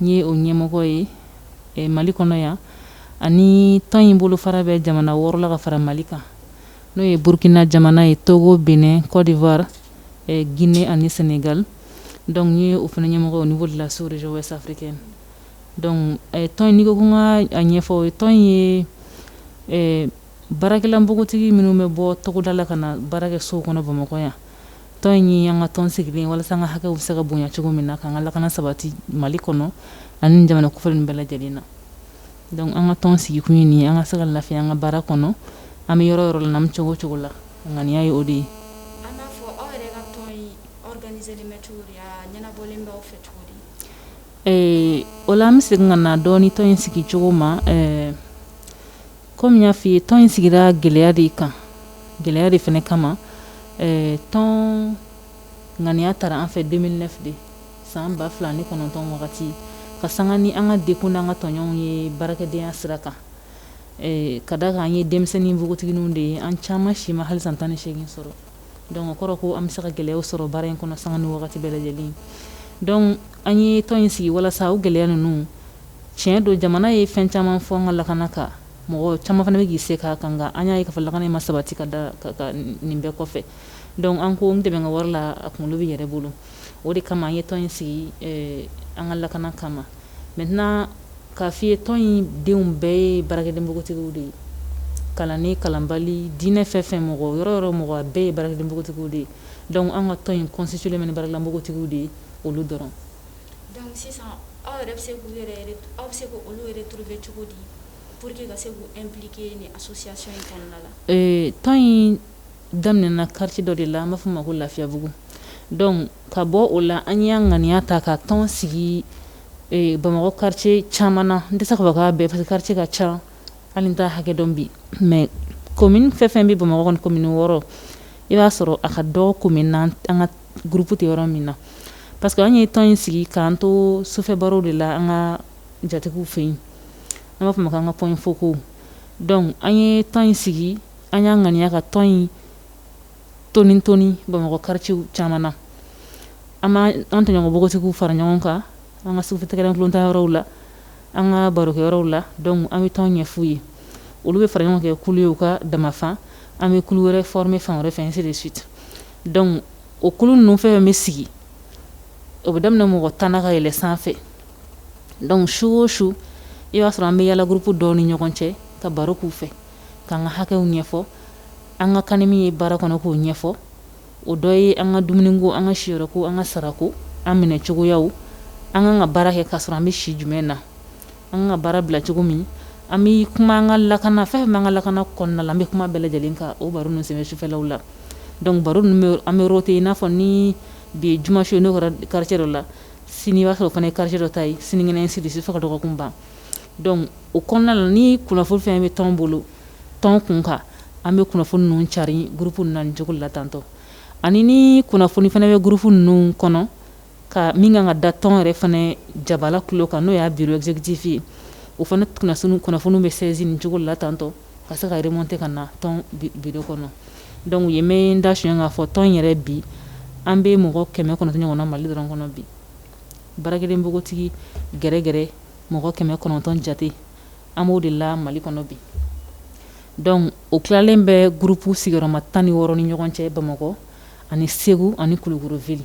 N ye o ɲɛmɔgɔ ye eh, Mali kɔnɔ yan ani tɔn in bolofara bɛ jamana wɔɔrɔ la ka fara Mali kan n'o ye Burkina jamana ye, Togo, Bénin, Côte d'Ivoire, eh, Guinée ani Sénégal. Donc n ye o fana ɲɛmɔgɔ ye au niveau de la sous région ouest africaine. Donc eh, tɔn in n'i ko ko n ka a ɲɛfɔ, tɔn in ye eh, Baarakɛla npogotigi minnu bɛ bɔ togoda la ka na baara kɛ so kɔnɔ bamakɔ yan tɔn in ye an ka tɔn sigilen walasa an ka hakɛw bɛ se ka bonya cogo min na ka an ka lakana sabati mali kɔnɔ ani jamana kofɔlen bɛɛ lajɛlen na donc an ka tɔn sigikun ye nin ye an ka se ka lafiya an ka baara kɔnɔ an bɛ yɔrɔ o yɔrɔ la an bɛ cogo o cogo la ŋaniya ye o de ye o la an bɛ se ka na donc tɔn in sigi cogo ma Comme n y'a fɔ i ye tɔn in sigira gɛlɛya de kan gɛlɛya de fana kama eh, tɔn ŋaniya tara an fɛ 2009 de san ba fila ni kɔnɔntɔn wagati ka sanga ni an ka degun n'an ka tɔɲɔnw ye baarakɛdenya sira kan eh, ka da kan an ye denmisɛnnin npogotigininw de ye an caman si ma hali san tan ni seegin sɔrɔ donc o kɔrɔ ko an bɛ se ka gɛlɛyaw sɔrɔ baara in kɔnɔ sanga ni wagati bɛɛ lajɛlen donc an ye tɔn in sigi walasa o gɛlɛya ninnu Tiɲɛ don jamana ye fɛn caman fɔ an ka lakana kan mɔgɔ caman fana bɛ k'i se k'a kan an y'a ye ko lakana in ma sabati ka da nin bɛɛ kɔfɛ donc an ko n dɛmɛ n ka wara la a kunkolo b'i yɛrɛ bolo o de kama an ye tɔn in sigi an ka lakana kama mais tɛna k'a fɔ i ye tɔn in denw bɛɛ ye baarakɛden npogotigiw de ye kalan ni kalanbali diinɛ fɛn o fɛn mɔgɔ yɔrɔ o yɔrɔ mɔgɔ bɛɛ ye baarakɛden npogotigiw de ye donc an ka tɔn in constitué ni baarala npogotigiw de ye olu dɔrɔn Donc sisan aw yɛrɛ bɛ se k'aw bɛ se k'olu retrouver cogo di pour que ka se k'impliquer nin association in kɔnɔna la ee tɔn in daminɛna quartier dɔ de la an b'a fɔ a ma ko lafiyabugu donc ka bɔ o la an y'an ŋaniya ta ka tɔn sigi bamakɔ quartier caman na n tɛ se k'a fɔ k'a bɛɛ parce que quartier ka ca hali n t'a hakɛ dɔn bi mais commune fɛn o fɛn bɛ bamakɔ kɔni commune wɔɔrɔ i b'a sɔrɔ a ka dɔgɔ commune an ka groupe tɛ yɔrɔ min na parce que an ye tɔn in sigi k'an to sufɛ barow de la an ka jatigiw fɛ yen an b'a fɔ a ma k'an ka points focaux donc an ye tɔn in sigi an y'an ŋaniya ka tɔn in toni toni bamakɔ quartiers caman na an an tɔɲɔgɔn npogotigiw fara ɲɔgɔn kan an ka sufɛ tɛgɛrɛ tulon ta yɔrɔw la an ka barokɛ yɔrɔw la donc an bɛ tɔn ɲɛfɔ u ye olu bɛ fara ɲɔgɔn kan ka kɛ kulu ye u ka damafan an bɛ kulu wɛrɛ former fan wɛrɛ fɛ ainsi de suite dɔnku o kulu ninnu fɛn fɛn bɛ sigi o bɛ daminɛ mɔgɔ tan ka yɛlɛ sanfɛ dɔnku su o su i b'a sɔrɔ an bɛ yaala gurupu dɔw ni ɲɔgɔn cɛ ka baro k'u fɛ k'an ka hakɛw ɲɛfɔ an ka kan ni min ye baara kɔnɔ k'o ɲɛfɔ o dɔ ye an ka dumuni ko an ka siyɔrɔ ko an ka sarako an minɛ cogoya an ka kan ka baara kɛ ka sɔrɔ an bɛ si jumɛn na an ka baara bila cogo min an bɛ kuma an ka lakana fɛn bɛ an ka lakana kɔnɔna la an bɛ kuma bɛɛ lajɛlen kan o baro ninnu sen fɛ sufɛlaw la dɔnku baro an bɛ yɔrɔ ten yen i n'a fɔ ni bi ye juma su n'o kari dɔ la sini b'a sɔrɔ o fana ye kari dɔ ta ye sinikɛnɛ ainsi de suite fo dɔgɔkun ban dɔnku o kɔnɔna la ni kunnafoni fɛn bɛ tɔn bolo tɔn kun kan an bɛ kunnafoni ninnu cari gurupu na cogo la tantɔ ani ni kunnafoni fana bɛ gurupu ninnu kɔnɔ ka min kan ka da tɔn yɛrɛ fana jabala tulo kan n'o y'a bureau exécutif ye o fana kunnafoni kunnafoniw bɛ sɛsin ni cogo la tantɔ ka se ka yɛrɛ remonte ka na tɔn biro kɔnɔ dɔnku ye mɛ da son k'a fɔ tɔn yɛrɛ bi an bɛ mɔgɔ kɛmɛ kɔnɔntɔn ɲɔgɔn na mali dɔrɔn kɔnɔ bi baarakɛden npogotigi yɛrɛyɛrɛ mɔgɔ kɛmɛ kɔnɔntɔn jate an b'o de la mali kɔnɔ bi dɔnku o tilalen bɛ gurupu sigiyɔrɔma tan ni wɔɔrɔ ni ɲɔgɔn cɛ bamakɔ ani segu ani kulukɔrɔ vili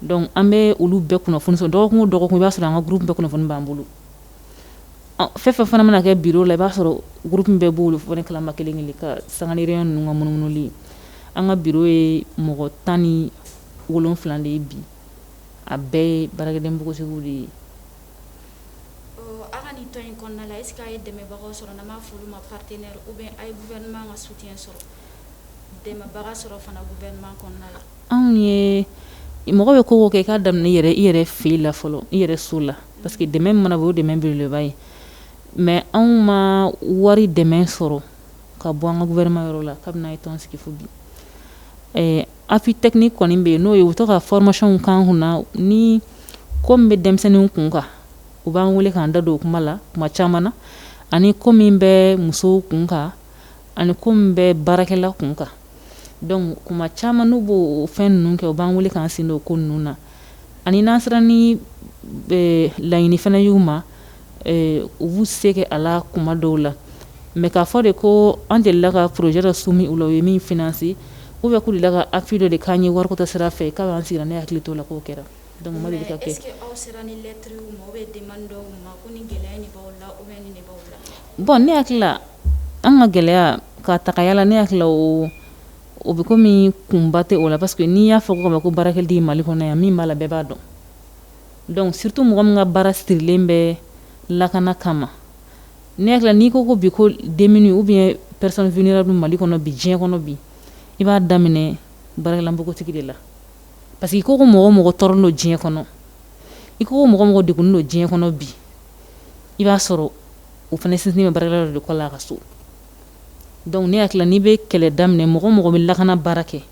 dɔnku an bɛ olu bɛɛ kunnafoni sɔrɔ dɔgɔkun o dɔgɔkun i b'a sɔrɔ an ka gurupu bɛɛ kunnafoni b'an bolo fɛn fɛn fana mana kɛ biro la i b'a sɔrɔ gurupu bɛɛ b'o olu fɔ kalama kelen kelen ka sanga ninnu ka munumunuli an ka biro ye mɔgɔ tan ni wolonwula de ye bi a bɛɛ ye baarakɛden npogotigi de ye anw ye mɔgɔ bɛ ko kɛ i ka daminɛ i yɛrɛ i yɛrɛ fili la fɔlɔ i yɛrɛ se la parce que dɛmɛ mana o dɛmɛ beleba ye mɛ anw ma wari dɛmɛ sɔrɔ ka bɔ an ka gofɛrɛnaman yɔrɔ la kabini an ye tɔn sigi fo bi appui technique kɔni bɛ yen n'o ye u to ka fɔrɔmasɔnw k'an kun na ni ko bɛ denmisɛnninw kun kan u b'an wele k'an da don o kuma la kuma caman na ani ko min bɛ musow kun kan ani ko min bɛ baarakɛla kun kan dɔnku kuma caman n'u b'o fɛn ninnu kɛ u b'an wele k'an sen don ko ninnu na ani n'an sera ni e, laɲini fana y'u ma e, u b'u se kɛ a la kuma dɔw la mɛ k'a fɔ de ko an delila ka porojɛ dɔ sumi u la u ye min finanse ou bien k'u delila ka appui dɔ de k'an ye wariko ta sira fɛ kabini an sigira ne hakili t'a la k'o kɛra dɔnku o ma deli ka kɛ bɔn ne hakili la an ka gɛlɛya ka tagaya la ne hakili o o bɛ komi min kunba tɛ o la parce que n'i y'a fɔ ka ma ko baarakɛden mali kɔnɔ yan min b'a la bɛɛ b'a dɔn donc surtout mɔgɔ min ka baara sirilen bɛ lakana kama ne hakili n'i ko ko bi ko denmisɛnnin u bɛ pɛrezfinina bɛ mali kɔnɔ bi diɲɛ kɔnɔ bi i b'a daminɛ baarakɛla npogotigi de la parce que ko ko mɔgɔ mɔgɔ tɔɔrɔlen don diɲɛ kɔnɔ i ko mɔgɔ mɔgɔ de don diɲɛ kɔnɔ bi i b'a sɔrɔ o fana sinsinnen bɛ baarakɛla de kɔ la a ka so donc ne hakili n'i bɛ kɛlɛ daminɛ mɔgɔ mɔgɔ bɛ lakana baara kɛ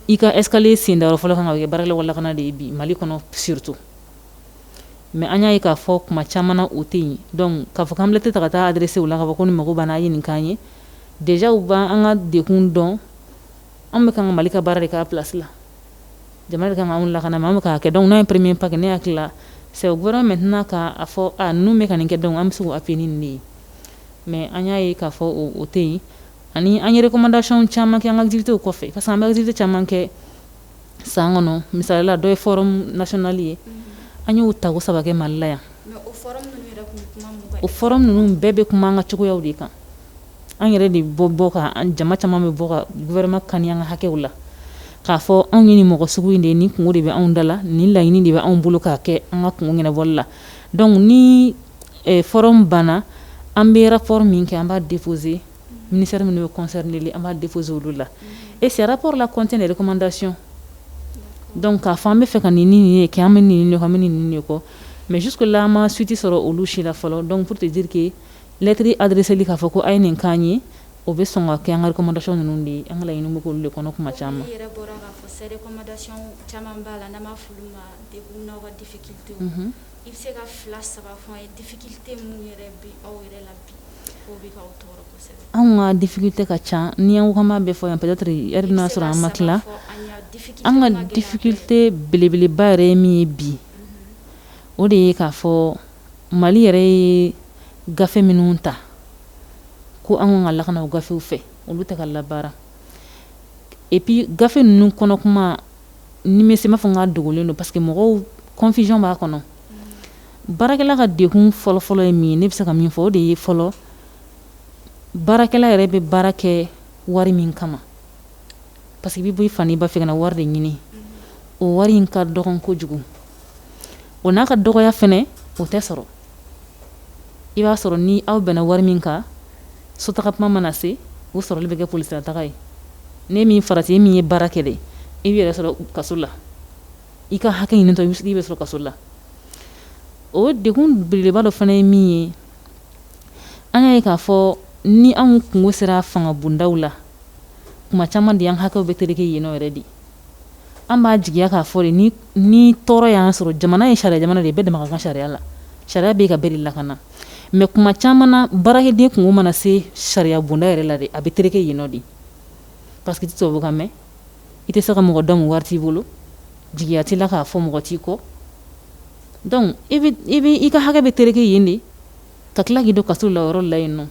i ka escalier sen da yɔrɔ fɔlɔ kan ka kɛ baarakɛlaw ka lakana de ye bi Mali kɔnɔ surtout mais an y'a ye k'a fɔ kuma caman na o tɛ yen donc k'a fɔ k'an bɛ lɛtɛrɛ ta ka taa adressé u la k'a fɔ ko nin mago b'an na a ye nin k'an ye déjà u bɛ an ka degun dɔn an bɛ kan ka mali ka baara de k'a plasi la jamana ka anw lakana ma bɛ k'a kɛ donc premier pas ne hakili la c'est gouvernement tɛna k'a fɔ n bɛ ka nin kɛ donc an bɛ se a p ni de ye mais an y'a ye k'a fɔ o tɛ yen ani an ye recommandation caman kɛ an ka activitéw kɔfɛ ka an bɛ activité caman kɛ san kɔnɔ misali la dɔ ye forum national ye an y'o ta saba mali la yan forum ninnu bɛɛ bɛ kuma an ka cogoyaw de kan an yɛrɛ de bɛ bɔ ka jama caman bɛ bɔ ka gouvernement kan an ka hakɛw la k'a fɔ anw ye nin mɔgɔ sugu in de nin kunko de bɛ anw da la nin laɲini de bɛ anw bolo k'a kɛ an ka kunko ɲɛnabɔli la donc ni eh, forum banna an bɛ rapport min kɛ an b'a déposer ministère minnu bɛ concerné de an b'a déposer olu la et ce rapport là contient des recommandations donc k'a fɔ an bɛ fɛ ka nin nin ye kɛ an bɛ nin nin kɔ mais jusque là an ma suite sɔrɔ olu si la fɔlɔ donc pour te dire que Lɛtiri adreseli k'a fɔ ko a ye nin k'an ye, o bɛ sɔn ka kɛ an ka recommandation ninnu de ye, an ka laɲini bɛ k'olu de kɔnɔ tuma caman. Komi i yɛrɛ bɔra k'a fɔ sisan recommandation caman b'a la n'an b'a fɔ olu ma degun n'aw ka difficultés i bɛ se ka fila saba fɔ an ye difficulté minnu yɛrɛ bɛ aw yɛrɛ la bi k'o bɛ k'aw tɔɔrɔ kosɛbɛ? Anw ka difficulté ka ca, ni an ko k'an b'a bɛɛ fɔ yan peut être heure bɛna sɔrɔ an ma tila, an ka difficulté belebeleba yɛrɛ ye min ye bi, o de ye k'a fɔ Mali yɛrɛ ye gafe minnu ta ko an ka kan ka lakana o gafew fɛ olu tɛ ka labaara et puis gafe ninnu kɔnɔ kuma ne bɛ se k'a fɔ k'a dogolen don parce que mɔgɔw confusion b'a kɔnɔ baarakɛla ka degun fɔlɔfɔlɔ ye min ye ne bɛ se ka min fɔ o de ye fɔlɔ baarakɛla yɛrɛ bɛ baara kɛ wari min kama Parce que i bɛ bɔ i fa n'i ba fɛ ka na wari de ɲini o wari in ka dɔgɔn kojugu o n'a ka dɔgɔya fana o tɛ sɔrɔ i b'a sɔrɔ ni aw bɛnna wari min kan sotaga kuma mana se o sɔrɔli bɛ kɛ polisilataga ye n'i ma farati e min ye baara kɛ dɛ i b'i yɛrɛ sɔrɔ kaso la i ka hakɛ ɲinitɔ i bɛ sɔrɔ kaso la o degun belebeleba dɔ fana ye min ye an y'a ye k'a fɔ ni anw kunko sera fanga bondaw la tuma caman de an hakɛw bɛ tɛrɛkɛ yen yɛrɛ de an b'a jigiya k'a fɔ de ni tɔɔrɔ y'an sɔrɔ jamana ye sariya jamana de bɛɛ dama ka kan sariya la sariya bɛ ka bɛɛ lakana mais tuma caman na baarakɛden kunko mana se sariya bonda yɛrɛ la de a bɛ tɛrɛkɛ yen de parce que i tɛ kan mɛn i tɛ se ka mɔgɔ dɔn wari t'i bolo jigiya t'i la k'a fɔ mɔgɔ t'i kɔ donc i ka hakɛ bɛ tɛrɛkɛ yen de ka tila k'i don kaso la yɔrɔ la yen nɔ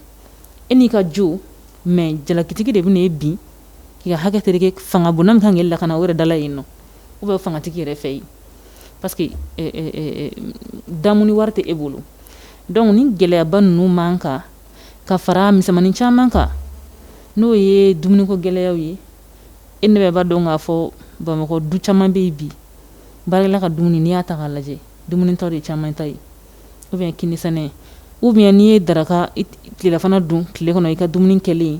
e n'i ka jo mais jalakitigi de bɛna e bin k'i ka hakɛ tɛrɛkɛ fanga bonda min ka kan k'e lakana o yɛrɛ da la yen nɔ u bɛ fangatigi yɛrɛ fɛ yen parce que damu wari tɛ e bolo donc nin gɛlɛyaba ninnu man kan ka fara misɛnmani caman kan n'o ye dumuniko gɛlɛya ye E an bɛɛ b'a dɔn k'a fɔ bamakɔ du caman bɛ yen bi baarakɛla ka dumuni n'i y'a ta k'a lajɛ dumuni tɔ de caman ta ye u bɛ kinisɛnɛ u bɛ n'i ye daraka tilefana dun tile kɔnɔ i ka dumuni kelen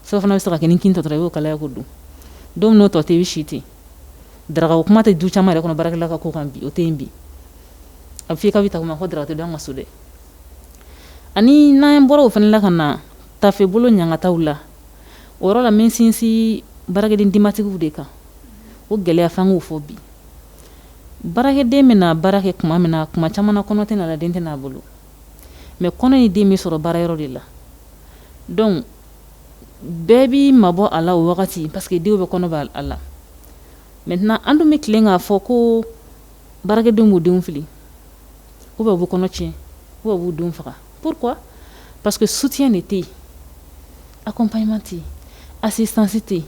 surɔfana bɛ se ka kɛ kini tɔ dɔrɔn i y'o kalaya k'o dun don n'o tɔ tɛ bɛ si ten daraka o kuma tɛ du caman yɛrɛ kɔnɔ baarakɛla ka ko kan bi o tɛ yen bi a fɔ i ka bɛ ta ma ko daraka tɛ dun an ka so dɛ ani n'an bɔra o fana la ka na tafebolo ɲakataw la o yɔrɔ la n bɛ n sinsin baarakɛden denbatigiw de kan o gɛlɛya fana fɔ bi baarakɛden bɛna baara kɛ tuma min na tuma caman kɔnɔ t'a la den t'a bolo mais kɔnɔ ni den bɛ sɔrɔ baara yɔrɔ de la donc bɛɛ b'i mabɔ a la o wagati parce que denw bɛ kɔnɔ b'a la mais tɛna an dun bɛ tilen k'a fɔ ko baarakɛdenw b'u denw fili u bɛɛ b'u kɔnɔ tiɲɛ u bɛɛ b'u denw faga Pourquoi parce que soutien de tɛ yen accompagnement tɛ yen assistance tɛ yen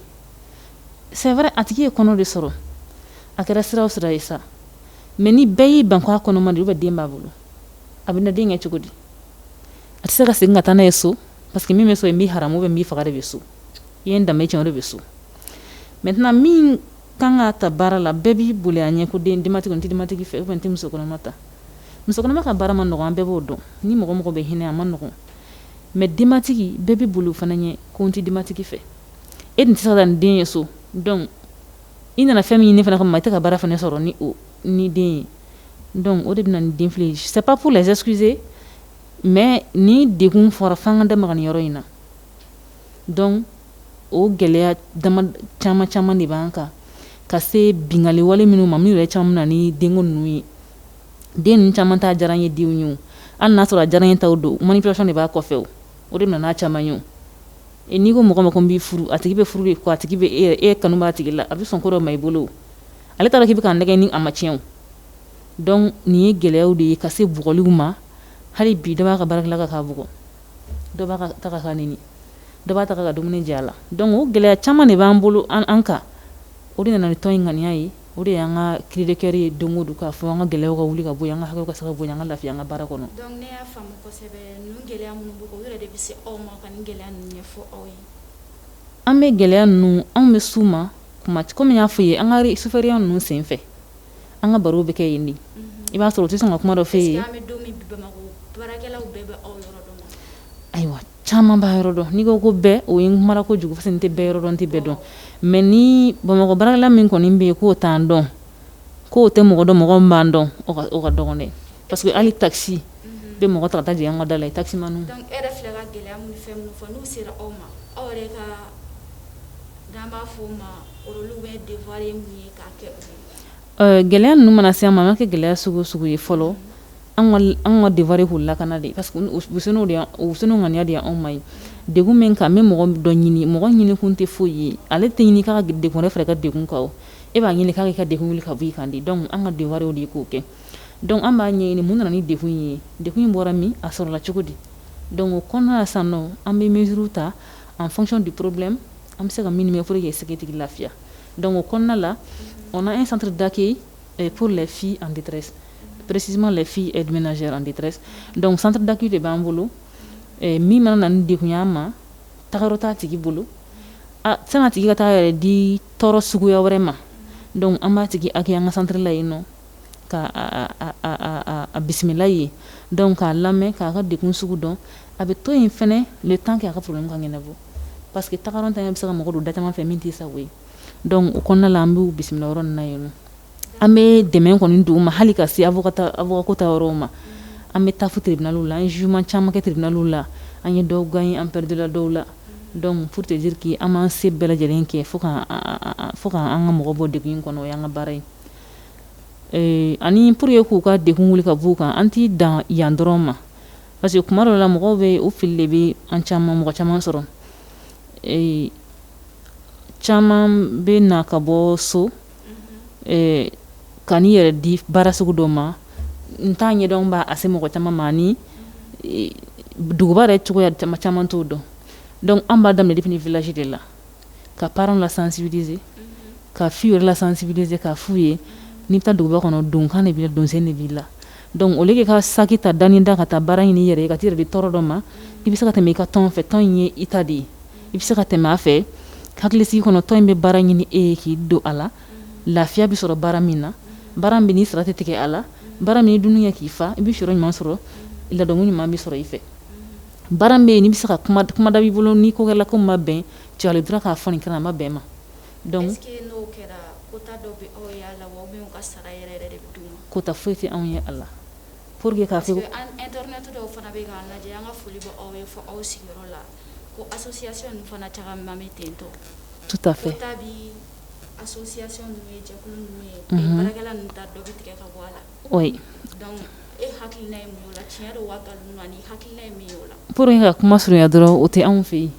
c'est vrai a tigi ye kɔnɔ de sɔrɔ a kɛra sira o sira ye sa mais ni bɛɛ y'i ban a kɔnɔma de bɛ den b'a bolo a bɛna den kɛ cogo di a tɛ se ka segin ka taa n'a ye so parce que min bɛ so in bɛ hamu bɛ b'i faga de bɛ so i ye danbe caman de bɛ so mais tɛna min kan ka ta baara la bɛɛ b'i boli a ɲɛ ko den denbatigi n tɛ denbatigi fɛ n tɛ musokɔnɔma ta Musokɔnɔma ka baara man nɔgɔn an bɛɛ b'o dɔn, ni mɔgɔ mɔgɔ bɛ hinɛ a man nɔgɔn mais denbatigi bɛɛ bɛ boli o fana ɲɛ ko n tɛ denbatigi fɛ, e dun tɛ se ka taa ni den ye so donc i nana fɛn min ɲini fana kama i tɛ ka baara fana sɔrɔ ni o ni den ye donc o de bɛna ni denfili ye c'est pas pour les excuser mais ni degun fɔra f'an ka da maga nin yɔrɔ in na donc o gɛlɛya caman caman de b'an kan ka se binkanniwale minnu ma min yɛrɛ caman nana ni den ninnu ye den caman ta diyara ye denw ye an n'a sɔrɔ diyara in ta don man dɔrɔn de b'a kɔfɛ o de nana caman ye e n'i ko mɔgɔ ma ko b'i furu a tigi bɛ furu de a tigi e e kanu b'a tigi la a bɛ sɔn kɔrɔ ma i bolo ale taara k'i bɛ ka nɛgɛn ni a ma tiɲɛ dɔn nin ye gɛlɛyaw de ye ka se bugɔliw ma hali bi dɔ b'a ka baarakɛla ka k'a bugɔ dɔ b'a ka taga k'a nɛni dɔ b'a taga ka dumuni jɛ a la donc o gɛlɛya caman de b'an bolo an an kan o de nana ni tɔn in ŋaniya ye o de y'an ka cri de cœur ye don o don k'a fɔ an ka gɛlɛya ka wuli ka bɔ an kan hakɛ ka sababu bɔ an ka lafiya an ka baara kɔnɔ an bɛ gɛlɛya ninnu anw bɛ suma kuma kɔmi i y'a fɔ ye an ka sufɛya ninnu sen fɛ an ka baro bɛ kɛ yen de i b'a sɔrɔ o tɛ sɔn ka kuma dɔ fɔ yen ayiwa caman b'a yɔrɔ dɔn n'i ko ko bɛɛ o ye mara ko jugu fɛn tɛ bɛɛ yɔrɔ dɔn n tɛ bɛɛ dɔn mais ni bamakɔ baarakɛla min kɔni bɛ yen k'o t'an dɔn k'o tɛ mɔgɔ dɔn mɔgɔ b'an dɔn o ka dɔgɔn dɛ parce que hali taxi bɛ mɔgɔ ta taa an ka da la i ta ma gɛlɛya ninnu mana se i ma an ka kɛ gɛlɛya sugu sugu ye fɔlɔ an ka devoir k'u lakana de parce que u sen ŋaniya de anw ma ye degun min ka bɛ mɔgɔ dɔ ɲini mɔgɔ ɲini kun tɛ foyi ye ale tɛ ɲini ka degun ne fɛ ka degun kan e b'a ɲini k'i ka degun wuli ka b'i kan de donc an ka devoir de k'o kɛ donc an b'a ɲɛɲini mun nana ni degun ye degun in bɔra min a sɔrɔla cogo di donc o kɔnɔna san nɔ an bɛ mesure ta en fonction du problème an bɛ se ka minimum ye se k'a tigi lafiya donc o kɔnɔna la on a un centre d'accueil Et pour les filles en détresse, précisément les filles aide ménagères en détresse. Donc centre d'accueil de b'an bolo eh, min mana na ni degun y'an ma tagayɔrɔ t'a tigi bolo ah, san'a tigi ka taa yɛrɛ di tɔɔrɔ suguya wɛrɛ ma donc an b'a tigi accueillir an ka centre la yen nɔ ka a, a, a, a, a bisimila yen donc k'a lamɛn k'a ka degun sugu dɔn a bɛ to yen fana le temps k'a ka problème ka ɲɛnabɔ parce que tagayɔrɔntanya bɛ se ka mɔgɔ don da caman fɛ min t'i sago ye donc o kɔnɔna la an b'u bisimila yɔrɔ na yen an bɛ dɛmɛ kɔni don u ma hali ka se avocat yɔrɔ ma an bɛ taa tribunal la an jugement caman kɛ tribunal la an ye dɔw gagner an perdila dɔw la donc peut-être que an b'an se bɛɛ lajɛlen kɛ pour qu'an ka mɔgɔ bɔ degun in kɔnɔ o y'an ka baara ye ani pour ye k'u ka degun wuli ka b'u kan an t'i dan yan dɔrɔn ma parce que tuma dɔ la mɔgɔw b'u fili degun bɛ an caman mɔgɔ caman sɔrɔ caman bɛ na ka bɔ so ka n'i yɛrɛ di baara sugu dɔ ma n t'a ɲɛdɔn parce mɔgɔ caman maa ni duguba yɛrɛ cogoya caman t'o dɔn dɔnku an b'a daminɛ depuis village de la ka parents lasensibiliser ka filles lasensibiliser k'a f'u ye n'i bɛ taa duguba kɔnɔ donkan de bɛ donso de b'i la dɔnku au lieu de ka so ta da da ka taa baara ɲini yɛrɛ ka di tɔɔrɔ dɔ ma i bɛ se ka tɛmɛ i ka tɔn fɛ tɔn in ye i ta de ye i bɛ se ka tɛmɛ a fɛ hakilisigi kɔnɔ tɔn in bɛ baara ɲini e ye k'i don a la lafiya bɛ sɔrɔ baara min na baara min n'i sara tɛ tigɛ a la baara min i dumuni kɛ k'i fa i bɛ siyɔrɔ ɲuman sɔrɔ ladonmu ɲuman bɛ sɔrɔ i fɛ baara bɛ yen n'i bɛ se ka kumada b'i bolo n'i ko kɛlɛ ko ma bɛn cɛli dɔrɔn k'a fɔ nin kana ma bɛn ma kota foyi tɛ anw ye a la pour que k'a Ka kuma surunya dɔrɔn o tɛ anw fɛ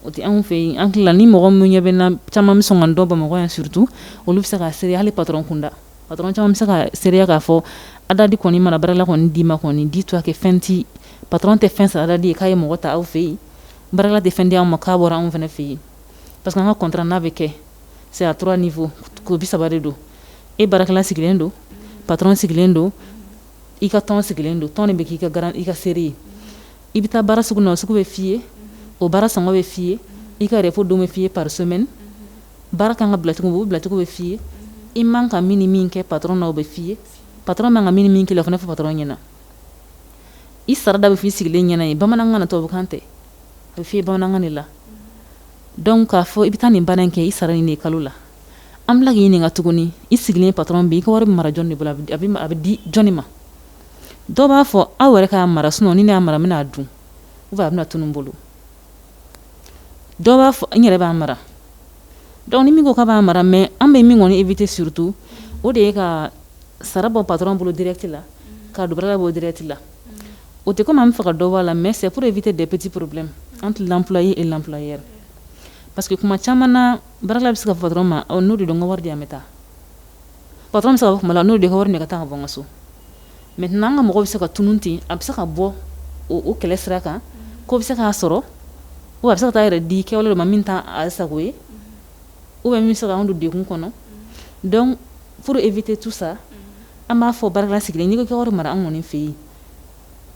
o tɛ anw fɛ an ni mɔgɔ min ɲɛ bɛ caman min sɔn k'an dɔn bamakɔ yan surtout olu bɛ se ka seereya hali patron kunda Patron caman bɛ se ka seereya k'a fɔ ADDAD kɔni mana baarakɛla kɔni d'i ma kɔni di tɔ kɛ fɛn tɛ patron tɛ fɛn sara ADDAD ye k'a ye mɔgɔ ta anw fɛ yen baarakɛla tɛ fɛn d'an ma k'a bɔra anw fana fɛ yen parce que an ka contrat n'a bɛ kɛ c'est à trois nin fɔ ko bi saba don e baarakɛla sigilen don patron sigilen don i ka tɔn sigilen don tɔn bɛ k'i ka garan i ka seere ye i bɛ taa baara sugu na o sugu bɛ f'i ye o baara san bɛ f'i ye i ka repos don bɛ f'i ye par semaine Baara kan ka bila cogo o bilacogo bɛ f'i ye i man ka min min kɛ patron na o bɛ f'i ye patron man ka min min k'i la fana bɛ fɔ patron ɲɛna i sarada bɛ f'i sigilen ɲɛna ye bamanankan tubabukan tɛ a bɛ f'i bamanankan de la dɔnku k'a fɔ i bɛ taa nin baara in kɛ i sara nin kalo la an bɛ tila k'i ɲininka ka tuguni i sigilen patron bɛ i ka wari mara jɔn de bolo a bɛ di jɔnni ma dɔw b'a fɔ aw yɛrɛ k'a mara sinon ni n'a mara bɛna'a dun ou bien a bɛna tunun n bolo dɔw b'a fɔ n yɛrɛ b'a mara dɔnku ni min ko ka b'a mara mɛ an bɛ min kɔni i bɛ tɛ surutu o de ye ka sara bɔ pato bolo dɛrɛti la ka dubara bɔ dɛrɛti la o tɛ komi an faga ka dɔw' la mɛ sɛporo i bɛ tɛ dɛ pti porobi an tɛ laula ye e laula yɛrɛ pa que kuma caman na bara bɛ se ka fa dɔrɔn ma n'o de don ka wari di an bɛ taa pa saba o kuma la n'o de hɔrɔn ne ka taa ka bɔ ka so mais n' an ka mɔgɔ bɛ se ka tunun ten a bɛ se ka bɔ o kɛlɛ sira kan ko bɛ se k'a sɔrɔ o a bɛ se ka taa yɛrɛ di kɛwale ma min t'a sago ye u bɛ min se anw don degun kɔnɔ donc pour éviter tout ça an b'a fɔ baarakɛden sigilen n'i ka wari mara an kɔni fɛ yen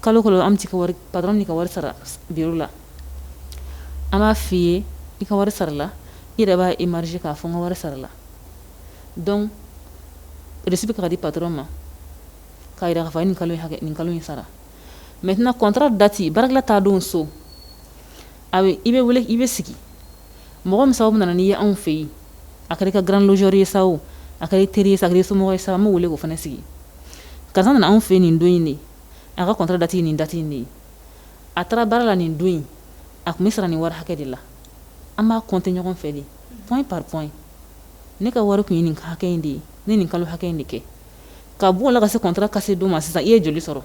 kalo kɔnɔ an bɛ pa min ka wari sara bi la an b'a f fɔ i ye i ka wari sarala i yɛrɛ bɛ émarger k'a fɔ n ka wari sarala donc reçu bɛ ka di patron ma k'a jira k'a fɔ nin kalo hakɛ nin kalo in sara maintenant contrat date baarakɛden taa don so a i bɛ wele i bɛ sigi mɔgɔ min sababu nana n'i ye anw fɛ yen a kɛra grand logeur ye sa a ka teri sa ye somɔgɔ ye sa b'a wele o fana sigi ka nana anw fɛ nin don in de a ka contrat date nin date de ye a taara baara la nin don in a tun bɛ sara nin wari hakɛ de la an b'a compter ɲɔgɔn fɛ de point par point ne ka wari tun ye nin hakɛ in de ye n ye nin kalo hakɛ in de kɛ ka b'o la ka se contrat ka se don ma sisan i ye joli sɔrɔ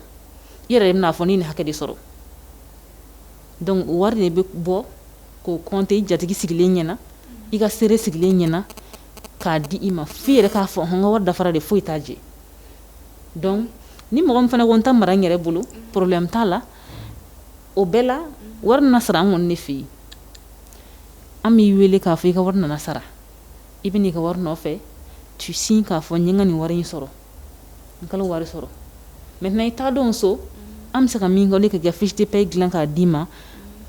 i yɛrɛ de bɛn'a fɔ n ye nin hakɛ de sɔrɔ donc o wari de bɛ bɔ k'o compter i jatigi sigilen ɲɛna i ka seere sigilen ɲɛna k'a di i ma fo i yɛrɛ k'a fɔ n ka wari dafara de foyi t'a jɛ donc ni mɔgɔ min fana ko n ta mara n yɛrɛ bolo problème t'a la o bɛɛ la wari na sara an kɔni ne fɛ yen an b'i wele k'a fɔ i ka wari nana sara i bɛ n'i ka wari nɔfɛ tu signes k'a fɔ n ye n ka nin wari in sɔrɔ n kalo wari sɔrɔ maintenant i taa don so an bɛ se ka min kɛ ka fiche de paie dilan k'a d'i ma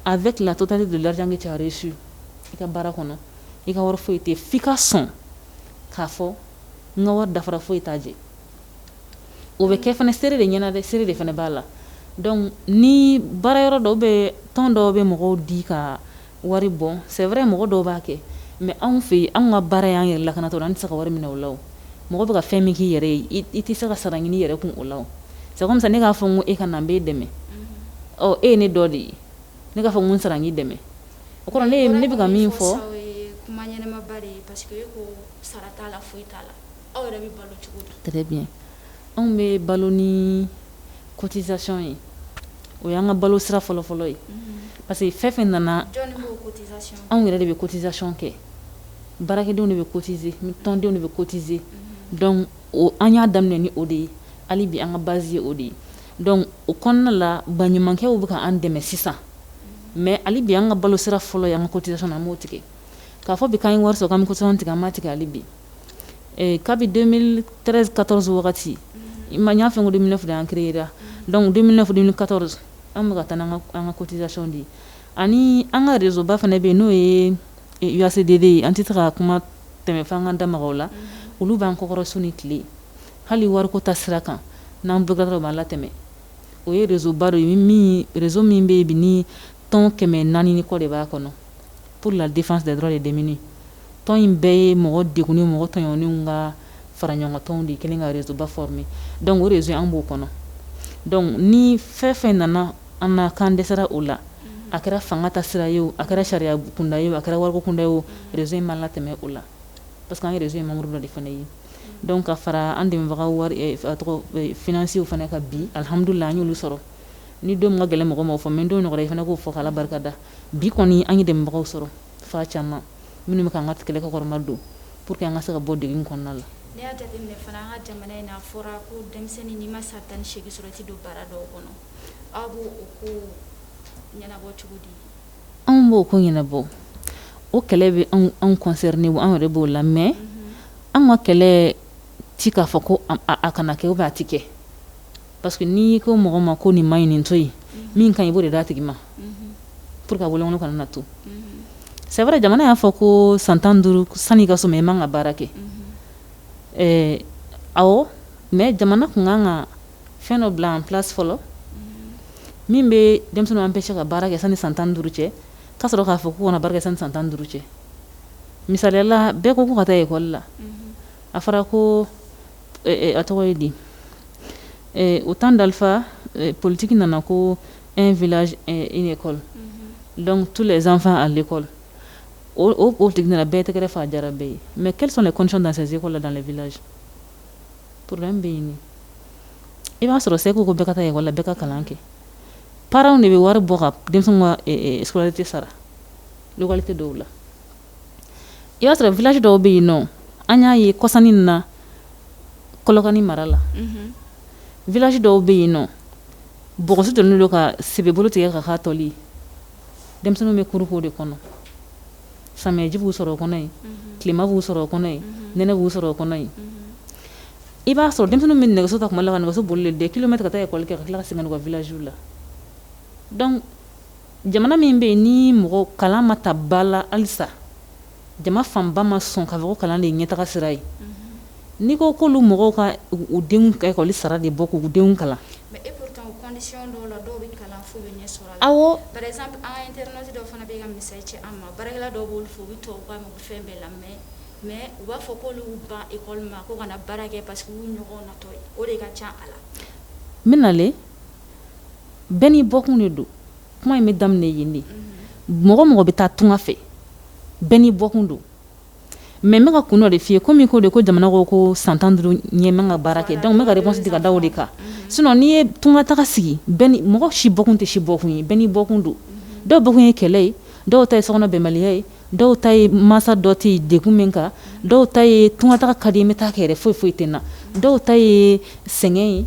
avec la totalité de l'argent que t'as reçu i ka baara kɔnɔ i ka wari foyi tɛ fo i ka sɔn k'a fɔ n ka wari dafara foyi t'a jɛ o bɛ kɛ fana seere de ɲɛna dɛ seere de fana b'a la donc ni baara yɔrɔ dɔw bɛ tɔn dɔw bɛ mɔgɔw di ka wari bɔ c'est vrai mɔgɔ dɔw b'a kɛ mais anw fɛ yen anw ka baara y'an yɛrɛ lakanatɔn an tɛ se ka wari minɛ o la o mɔgɔ bɛ ka fɛn min k'i yɛrɛ ye i tɛ se ka sara ɲini yɛrɛ kun o la o c'est comme ça ne k'a fɔ n ko e ka na n b'e dɛmɛ ɔ e ye ne dɔ de ye ne k'a fɔ n ko n sara n k'i dɛmɛ o kɔrɔ ne ne bɛ ka min fɔ kuma ɲɛnamaba de ye parce que e ko sara t'a la foyi t'a la aw yɛrɛ bɛ balo cogo di très bien anw bɛ balo ni cotisation ye o y'an ka balo sira fɔlɔfɔlɔ ye parce que fɛn o fɛn nana anw yɛrɛ de bɛ cotisation kɛ baarakɛdenw de bɛ cotiser tɔndenw de bɛ cotiser donc o an y'a daminɛ ni o de ye hali bi an ka base ye o de ye donc o kɔnɔna la baɲumankɛw bɛ ka an dɛmɛ sisan mais hali bi an ka balo sira fɔlɔ ye an ka cotisation na an m'o tigɛ k'a fɔ bi k'an ye wari sɔrɔ k'an bɛ cotisation tigɛ an m'a tigɛ hali bi kabi quatorze wagati i ma y'a fɛn ko don fana an kira donc don quatorze an bɛ ka taa an ka cotisation de ye ani an ka réseau ba fana bɛ yen n'o ye UACDDDD ye an tɛ se ka kuma tɛmɛfan ka da la olu b'an kɔkɔrɔ su ni tile hali wariko ta sira kan n'an bɛ dɔrɔn b'an latɛmɛ o ye réseau ba ye réseau min bɛ yen bi ni tɔn kɛmɛ naani kɔ de b'a kɔnɔ pour la défense des droits des démunis tɔn in bɛɛ ye mɔgɔ degunnenw mɔgɔ tɔɲɔnnenw ka fara ɲɔgɔn tɔnw de kɛlen ka réseau ba former donc o réseau an b'o kɔnɔ donc ni fɛn o fɛn nana an na k'an dɛsɛra o la a kɛra fanga ta sira ye o a kɛra sariya kunda ye o a kɛra wariko kunda ye o réseau in b'an latɛmɛ o la parce que an ye réseau in membre dɔ de fana ye donc ka fara an dɛmɛbagaw wari eh, a tɔgɔ eh, financiers fana ka bi alhamdulillah an y'olu sɔrɔ ni don ka gɛlɛn mɔgɔ ma o fɔ mais don nɔgɔyara i fana k'o fɔ k'Ala barika da Bi kɔni an ye dɛmɛbagaw sɔrɔ fan caman minnu bɛ k'an ka kɛlɛ kɔkɔrɔmadon pour que an ka se ka bɔ degun kɔnɔna la. N'i y'a jateminɛ fana an ka jamana in na a fɔra ko denmisɛnnin n'i ma san tan ni seegin sɔrɔ i tɛ don baara dɔw kɔnɔ aw b'o o ko ɲɛnabɔ cogo di? Anw b'o ko ɲɛnabɔ o kɛlɛ bɛ anw anw concerner anw yɛrɛ b'o la mais mhm. anw ka kɛlɛ ti k'a fɔ ko a kana kɛ ou bien a ti kɛ Parce que n'i ko mɔgɔ ma ko nin man ɲi nin to yen min ka ɲi i b'o de d'a tigi ma p walasa a bololankolon kana to c'est vrai jamana y'a fɔ ko san tan duuru sanni k'a sɔrɔ i man kan ka baara kɛ ɛɛ ɔ mais jamana tun ka kan ka fɛn dɔ bila a place fɔlɔ min bɛ denmisɛnnin an bɛ se ka baara kɛ sanni san tan duuru cɛ ka sɔrɔ k'a fɔ ko kana baara sanni san tan duuru cɛ misali la bɛɛ ko ko ka taa école la a fɔra ko a tɔgɔ ye di o tan dalifa politigi nana ko e vkɔ dɔnku tu la zanfa a kɔ o o tigi nana bɛɛ tɛgɛɛrɛ fa jara bɛɛ ye mɛ ki de kɔnc na se seeko la dan v poro bɛ ɲini i b'a sɔrɔ segu ko bɛka taa la bɛ ka kalan kɛ paraww de bɛ wari bɔ ka denmisɛn ka tɛ sara tɛ dɔw la i b'a sɔrɔ village dɔw bɛ yen nɔ an y'a ye kɔsanin ninnu na Kolokani mara la village dɔw bɛ yen nɔ bɔgɔso donnen don ka sebebolo tigɛ ka k'a tɔli ye denmisɛnninw bɛ cours k'o de kɔnɔ samiyɛji b'u sɔrɔ o kɔnɔ yen tilema b'u sɔrɔ o kɔnɔ yen nɛnɛ b'u sɔrɔ o kɔnɔ yen i b'a sɔrɔ denmisɛnninw bɛ nɛgɛso ta tuma dɔ la ka nɛgɛso bolilen de kɛ kilomɛtɛrɛ ka taa école kɛ ka tila ka segin ka na u ka village la donc Jamana min bɛ yen ni mɔgɔ kalan ma ta ba la halisa jama fanba ma sɔn k'a fɔ ko kalan de ye ɲɛtaa sira ye n'i ko ko mɔgɔw ka u denw ka ekɔli sara de bɔ k'u denw kalan bɛna bɛɛ n'i bɔkun de don kuma in bɛ daminɛ yen de mɔgɔ o mɔgɔ bɛ taa tunga fɛ bɛɛ n'i bɔkun don mɛ bɛka ka kun dɔ de f'i ye ko min ko de ko jamana ko ko san tan duuru ɲɛ ka baara kɛ dɔnku bɛ kasi ka da de kan sin n'i ye tunga taga sigi mɔgɔ si bɔkun tɛ si bɔkun ye bɛɛ n'i bɔkun don dɔw ta ye kɛlɛ ye dɔw ta ye sokɔnɔ bɛnbaliya ye dɔw ta ye mansa dɔ tɛ yen dekun min kan dɔw ta ye tungataa ka di bɛ taa kɛɛrɛ foyi foyi tɛ na dɔw ta ye sɛgɛn ye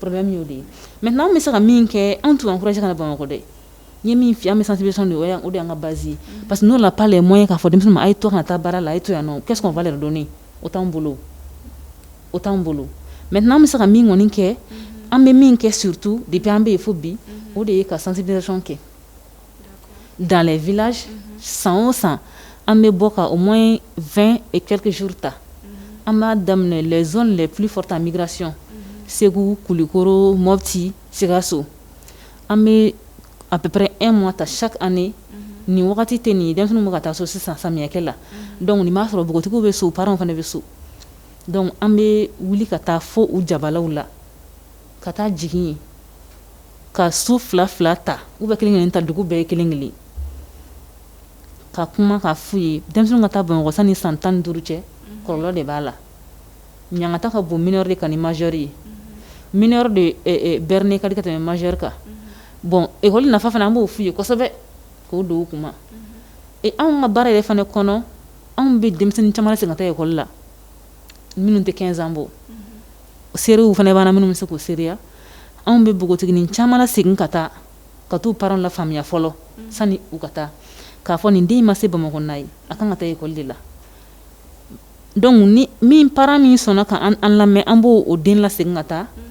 problème y'o de ye maintenant an bɛ se ka min kɛ anw t'u encourager ka na Bamakɔ dɛ n ye min f'i ye an bɛ sensibilisation de o y'an o de y'an ka base ye mm-hmm. parce que nous on n'a pas les moyens k'a fɔ denmisɛnninw ma a ye to kana taa baara la a ye to yan nɔ qu'est-ce qu'on va leur donner o t'anw bolo o t'anw bolo maintenant an bɛ se ka min kɔni kɛ mm-hmm. an bɛ min kɛ surtout depuis an bɛ yen fo bi mm-hmm. o de ye ka sensibilisation kɛ danlɛ v san san an bɛ bɔ ka o mɔ in fɛn kikisjuru ta an b'a daminɛ z de p fɔta mirasi segu kulukoro mɔti sikaso an bɛ a bɛpɛ e mɔ ta sa ani nin wagati tɛ nin dɛsɛ ma ka taa so sisan samiyɛkɛ la dɔnku nin b'a sɔrɔ npogotigiw bɛ so pa fana bɛ so dɔnku an bɛ wuli ka taa fɔ u jabalaw la ka taa jigin yen ka su fila fila ta u bɛ kelen kelen ta dugu bɛɛ ye kelen kelen ka kuma k'a f'u ye denmisɛn ka taa bamakɔ sani san tan duuru cɛ kɔrɔ de b'a la ɲangata ka bon mineur de kan ni majeur ye mineur de ne ka ka tɛmɛ majeur kan bon ekɔli nafa fana an b'o f'u ye kosɛbɛ k'o don u kun na anw ka baara yɛrɛ fana kɔnɔ anw bɛ denmisɛnnin caman lasegin ka taa ekɔli la minnu tɛ quinze ans bɔ mhm. seerew fana b'a la minnu bɛ se k'o seereya anw bɛ npogotigiini caman lasegin ka taa ka taa u parents lafaamuya fɔlɔ mhm. sani u ka taa k'a fɔ nin den ma se bamakɔ na ye a kan ka taa ekɔli de la dɔnku ni min parent min sɔnna k'an lamɛn an b'o den lasegin ka taa mhm.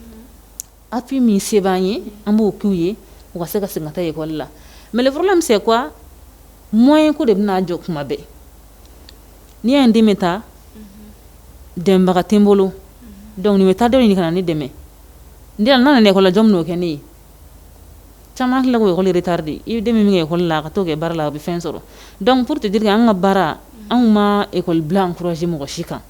Appui min se b'an ye an b'o k'u ye u ka se ka taa ekɔli la mais le problème c'est que moyen ko de b'a jɔ kuma bɛɛ n'i y' den bɛ taa dɛmɛbaga tɛ n bolo dɔnku a bɛ taa dɔ ɲini ka na ne dɛmɛ n n nana ekɔli la jɔn b'o kɛ ne ye caman tila ekɔli de taara de i den min min kɛkɔ la a ka to kɛ baara la a bɛ fɛn sɔrɔ dɔnkuc porote deli an ka baara anw ma ekɔli bila an ksi mɔgɔ si kan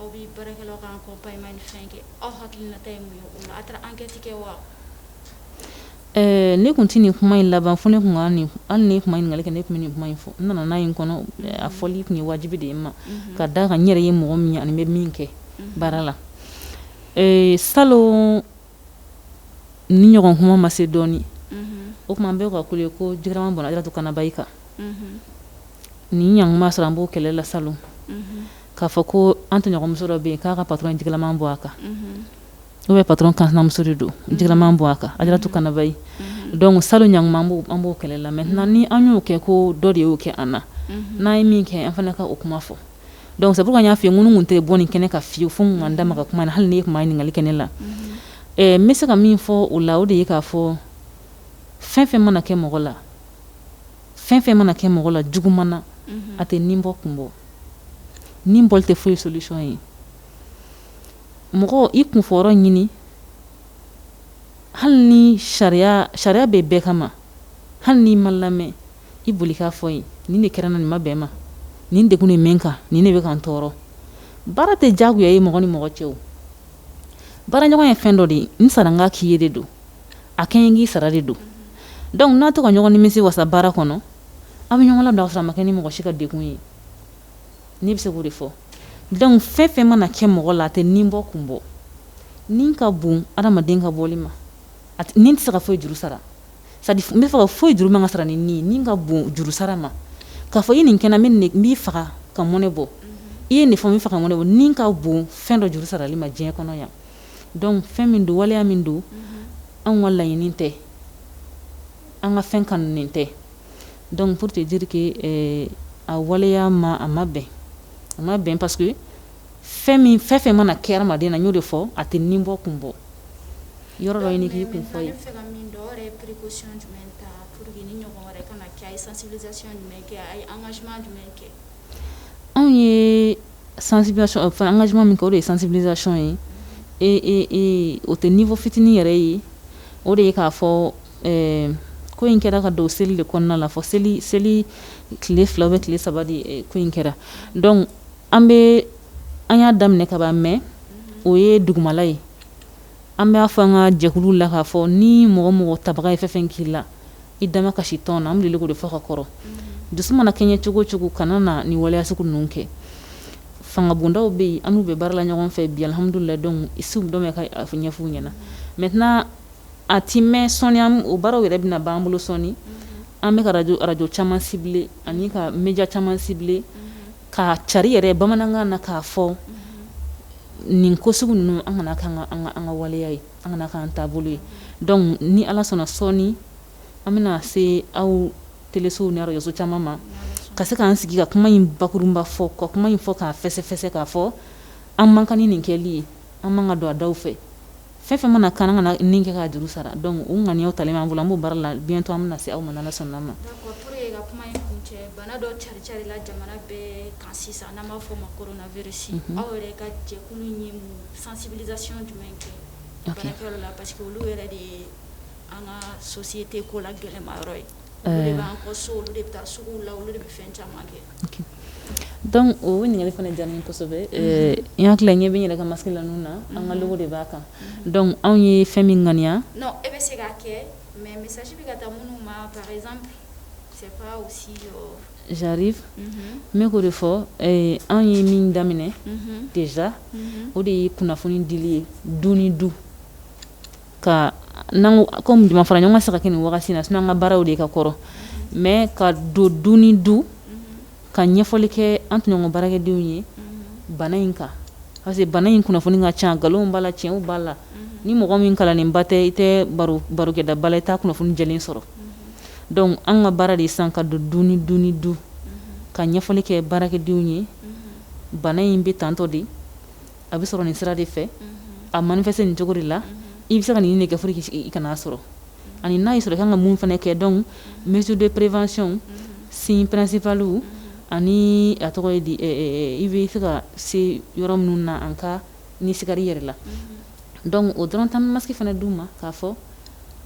aw bɛ baarakɛlaw ka accompagnement ni fɛn kɛ aw hakilinata ye mun ye o la a taara enquête kɛ wa ne tun tɛ nin kuma in laban fɔ ne tun ka nin hali n'i tun ma ɲininkali kɛ ne tun bɛ nin kuma in fɔ n nana n'a ye n kɔnɔ a fɔli tun ye wajibi de ye n ma mhm. ka d'a kan n yɛrɛ ye mɔgɔ min ye an bɛ min kɛ mhm. baara la salon nin ɲɔgɔn kuma ma se dɔɔnin mhm. o tuma an bɛ ka kule ko ji kalaman bɔnna jiratu kanaba i kan nin ɲɔgɔn kuma sɔrɔ an b'o kɛlɛ la salon k'a fɔ ko an tɔɲɔgɔnmuso dɔ bɛ yen k'a ka patɔrɔn ye ji kalaman bɔn a kan n'o bɛ patɔrɔn ka muso de don ji kalaman bɔn a kan a jiratu kanaba ye dɔnku salon ɲɔgɔn kuma an b'o an b'o kɛlɛ la mɛ na ni an y'o kɛ ko dɔ de y'o kɛ an na n'an ye min kɛ an fana ka o kuma fɔ dɔnku sabu ka y'a fɛ n tun tɛ bɔ nin kɛnɛ kan fewu fo ka da ma ka kuma na hali n'i tun ye ɲininkali kɛ ne la n bɛ se ka min fɔ o la o de ye k'a fɔ fɛn fɛn mana kɛ mɔgɔ la Fɛn fɛn mana kɛ mɔgɔ la juguman na a tɛ ni bɔ kun bɔ ni bɔli tɛ foyi solution ye mɔgɔ i kunfɔyɔrɔ ɲini hali ni sariya sariya bɛ bɛɛ kama hali n'i ma lamɛn i boli k'a fɔ yen nin de kɛra n na nin ma bɛn n ma nin de nin bɛ n kan nin de bɛ ka n tɔɔrɔ baara tɛ jagoya ye mɔgɔ ni mɔgɔ cɛ baaraɲɔgɔn ye fɛn dɔ de ye n sara n k'a k'i ye de don a kɛ n ye n k'i sara de don dɔnku n'a tɛ ka ɲɔgɔn nimisi wasa baara kɔnɔ aw bɛ ɲɔgɔn bila ka sɔrɔ a ma kɛ ni mɔgɔ si ka degun ye ne bɛ se k'o de fɔ dɔnku fɛn fɛn mana kɛ mɔgɔ la a tɛ nin bɔ kun bɔ ni ka bon adamaden ka bɔli ma ni tɛ se ka foyi juru sara n bɛ fɔ ka foyi juru man kan ka sara ni nin ni ka bon juru sara ma k'a fɔ i ye nin kɛ n na n b'i faga ka mɔnɛ bɔ i ye nin fɔ n b'i faga ka mɔnɛ bɔ ni ka bon fɛn dɔ juru sarali ma diɲɛ kɔnɔ yan Dɔnku fɛn min don waleya min don an ka laɲini tɛ an ka fɛn kanunen tɛ dɔnku pour te dire que a waleya ma a ma bɛn a ma bɛn parce que fɛn min fɛn fɛn mana kɛ adamaden na n y'o de fɔ a tɛ nin bɔ kun bɔ yɔrɔ dɔ ɲini k'i kun fɔ anw ye fana engagement min kɛ o de ye sensibilisation ye ee o tɛ niveau fitinin yɛrɛ ye o de ye k'a fɔ ko in kɛra ka don seli de kɔnɔna la fɔ seli seli tile fila bɛ tile saba de ko in kɛra dɔnku an bɛ an y'a daminɛ kaban mɛ o ye dugumala ye an b'a fɔ an ka jɛkulu la k k'a fɔ ni mɔgɔ mɔgɔ tabaga ye fɛn fɛn k'i la i dama kasi tɔn na an deli k'o de fɔ ka kɔrɔ dusu mana kɛɲɛ cogo o cogo kana na ni waleya sugu ninnu kɛ fangabondaw bɛ yen an n'u bɛ baara la ɲɔgɔn fɛ bi alihamudulila dɔn isi dɔ ka ɲɛf'u ɲɛna mɛ tɛna a tɛ mɛn sɔɔni o baaraw yɛrɛ bɛna b'an bolo sɔɔni an bɛ araj arajo caman cibler ani ka média caman cibler ka cari yɛrɛ bamanankan na k'a fɔ nin ko sugu ninnu an kana kɛ an ka waleya ye an kana k'an taabolo ye dɔnku ni ala sɔnna sɔɔni an bɛna se aw telesow ni arajoso caman ma ka se k'an sigi ka kuma in bakurunba fɔ ka kuma in fɔ k'a fɛsɛfɛsɛ k'a fɔ an man kan ni nin kɛli ye an man kan ka don a da fɛ fɛn o fɛn mana kɛ an kana nin kɛ ka juru sara dɔnku nka aw talen an bolo an b' baara la bi to an bɛna na se aw ma ni ala sɔnna ma Sensibilisation ɲuman kɛ baarakɛyɔrɔ la parce que olu yɛrɛ de ye an ka société kolo gɛlɛnma yɔrɔ ye olu de b'an ka so olu de bɛ taa sugu la olu de bɛ fɛn caman kɛ dɔnku o ɲininkali fana diyara kosɛbɛ n hakili la ɲɛ bɛ n yɛrɛ ka masque la ninnu na an ka logo de b'a kan dɔnku anw ye fɛn min ŋaniya e bɛ se k'a kɛ mɛ message bɛ ka taa minnu ma Jariri ne k'o de fɔ anw ye min daminɛ déjà o de ye kunnafoni dili ye du ni du ka kɔmi fara ɲɔgɔn kan saba nin wagati na sinon an ka baaraw de ka kɔrɔ mɛ ka don du ni du ka ɲɛfɔli kɛ an tɔɲɔgɔn baarakɛdenw ye bana in kan parce que bana in kunnafoni ka ca nkalon b'a la tiɲɛ b'a la ni mɔgɔ min kalannenba tɛ i tɛ barokɛdaba la i t' kunnafoni jɛlen sɔrɔ dɔnku an ka baara de san ka don du ni du ni du ka ɲɛfɔli kɛ baarakɛdenw ye bana in bɛ tantɔ de a bɛ sɔrɔ nin sira de fɛ a manifester nin cogo de la i bɛ se ka nin ni nin kɛ i kan'a sɔrɔ ani n'a y'i sɔrɔ i ka kan ka mun fana kɛ dɔnku mesure de prévention signe principal ani a tɔgɔ i bɛ se ka se yɔrɔ minnu na en cas n'i sigar'i yɛrɛ la dɔnku o dɔrɔn tɛ an masque fana d'u ma k'a fɔ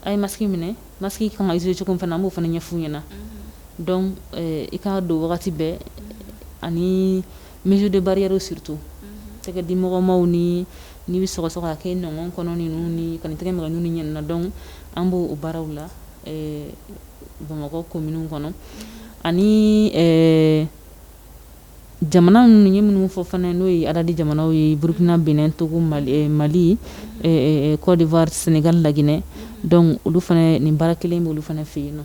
a ye masque minɛ Masque in ka kan ka utiliser cogo min fana an b'o fana ɲɛf'u ɲɛna mhm. donc euh, i k'a don wagati bɛɛ mhm. ani mesure de barrière surtout mhm. tɛgɛ di mɔgɔ ma o ni n'i bɛ sɔgɔsɔgɔ k'a kɛ i nɔngɔn kɔnɔ ninnu n'i kana i tɛgɛ maga nun n'i ɲɛ ninnu na donc an b'o o baaraw la euh, Bamakɔ kominiw kɔnɔ ani euh, Jamana ninnu ye minnu fɔ fana n'o ye ADDAD jamanaw ye burukina benɛn togo mali kɔdiwari senegali laginɛ olu fana nin baara kelen bɛ olu fana fɛ yen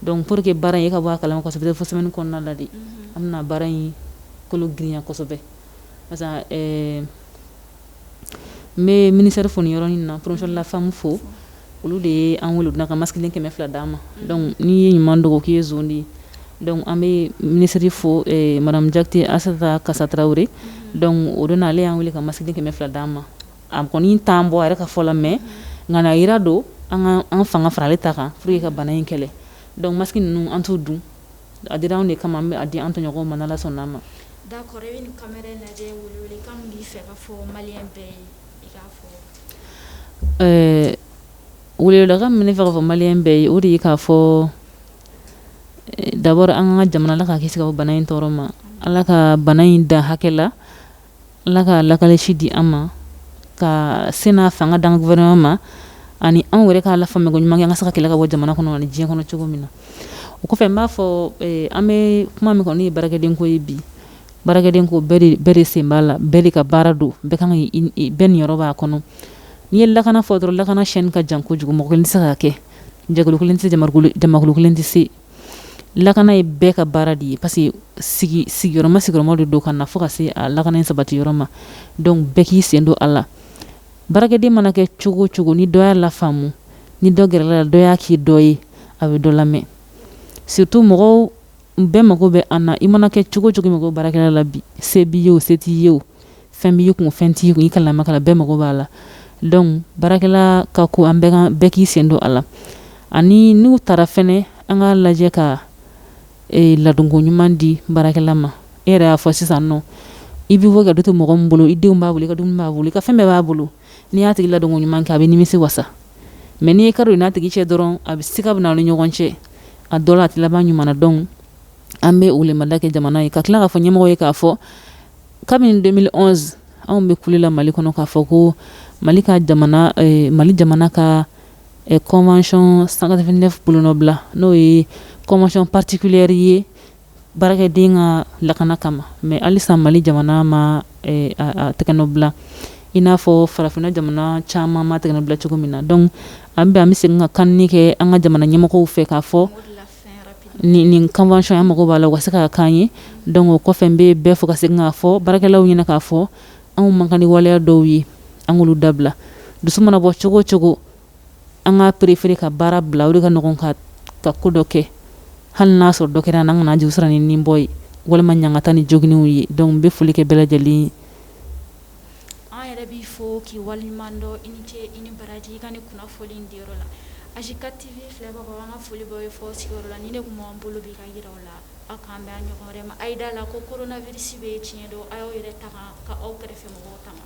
dɔnku pour que baara in ka bɔ a kala ma kosɛbɛ fo semaine in kɔnɔna la de an bɛna baara in kolo girinya kosɛbɛ n bɛ minisiri fo nin yɔrɔnin na promotion de la femme fo olu de ye an wele ka masiki kɛmɛ fila d'an ma dɔnku n'i ye ɲuman dogo k'i ye de dɔnku an bɛ minisiri fo madame Diakité Aïssata Kassa Traoré o don na ale y'an wele ka masiki kɛmɛ fila d'an ma a kɔni t'an bɔ a yɛrɛ ka fɔ la mɛ nka a jira don an fanga fara ale ta kan pour ka bana in kɛlɛ dɔnku masiki ninnu an t'u don A dira anw de kama bɛ a di an tɔɲɔgɔn ma n'ala sɔnna an ma da kɔrɔ bɛ kama lajɛ b'i fɛ ka fɔ mali bɛɛ ye i ka fɔ ɛɛ wla ka minɛ fɛ ka fɔ maliyɛn bɛɛ ye o de ye k'a fɔ d'abord an ka jamana ala k'a kisi bana in tɔɔrɔ ma ala ka bana in da hakɛ la Ala ka lakalilisi di an ma ka se n'a fanga d'an gouvernement ma ani anw yɛrɛ k'a lafaamuya mɛn ko ɲuman ka se k'a kɛlɛ k'a bɔ jamana kɔnɔ ni diɲɛ kɔnɔ cogo min na o kɔfɛ n b'a fɔ an bɛ kuma min kɔni ne ye baarakɛden ko ye bi baarakɛden ko bɛɛ de sen b'a la bɛɛ de ka baara don bɛɛ ka bɛɛ niyɔrɔ b'a kɔnɔ n'i ye lakana fɔ dɔrɔn lakana chaîne in ka jan kojugu mɔgɔ kelen tɛ se k'a kɛ jɛ kelen tɛ jɛkulu kelen tɛ se lakana ye bɛɛ ka baara de ye parce que sigi sigiyɔrɔma sigiyɔrɔma de don ka na fo ka se a lakana in sabati yɔrɔ ma donc bɛɛ k'i sen don a la baarakɛden mana kɛ cogo cogo ni dɔ y'a lafaamu ni dɔ gɛrɛla la dɔ y'a k'i dɔ ye a bɛ dɔ lamɛn surtout mɔgɔw bɛɛ mago bɛ an na i mana kɛ cogo cogo i mago bɛ baarakɛla la bi se b'i ye o se t'i ye o fɛn b'i kun fɛn t'i kun i kalanna i ma kalan bɛɛ mago b'a la donc baarakɛla ka ko an bɛɛ k'i sen don a la ani n'u taara fɛnɛ an ka lajɛ ka e, ladonko ɲuman di baarakɛla ma e yɛrɛ y'a fɔ sisan nɔ i bɛ bɔ ka du to mɔgɔ min bolo i denw b'a bolo i ka dumuni b'a bolo i ka fɛn bɛɛ b'a bolo n'i y'a tigi ladonko ɲuman kɛ a b'i nimisi wasa mɛ n'i ye ka don n'a tigi cɛ dɔrɔn a bɛ se ka bɛn a ni ɲɔgɔn cɛ a dɔ la a tɛ laban ɲuman donc an bɛ o lamada kɛ jamana ye ka tila k'a fɔ ɲɛmɔgɔ ye k'a fɔ kabini 2011 anw bɛ kule la mali kɔnɔ k'a fɔ ko mali ka jamana eh, mali jamana ka eh, convention 189 bolonɔbila n'o ye convention particulière ye baarakɛden ka lakana kama mɛ halisa mali jamana ma eh, a, a tɛgɛnɔbila i n'a fɔ farafinna jamana caman m'a tɛgɛnɔbila cogo min na donc an bɛ an bɛ segin ka kanni kɛ an ka jamana ɲɛmɔgɔw fɛ k'a fɔ ni ni convention an mago b'a la u ka se k'a kɛ an ye donc o kɔfɛ n bɛ bɛɛ fo ka se k'a fɔ baarakɛlaw ɲɛna k'a fɔ anw man kan ni waleya dɔw ye an olu dabila dusu mana bɔ cogo cogo an ka perefeere ka baara bila o ka ɲɔgɔn ka ka ko dɔ kɛ hali n'a sɔrɔ dɔ kɛra an k'a juru sara ni ni bɔ ye walima ɲangata ni joginw ye dɔnku n bɛ foli kɛ bɛɛ lajɛlen An yɛrɛ b'i fo k'i waleɲumandɔn i ni ce i ni baraji i ka nin kunafoli in diyara n na AGITATV filɛbagaw an ka foli b'aw ye fo aw sigiyɔrɔ la nin de tun b'an bolo bi ka jira aw la aw k'an bɛn a ɲɔgɔn wɛrɛ ma a ye d'a la ko coronavirus bɛ yen tiɲɛ don a y'aw yɛrɛ tanga ka aw kɛrɛfɛ mɔgɔw tanga.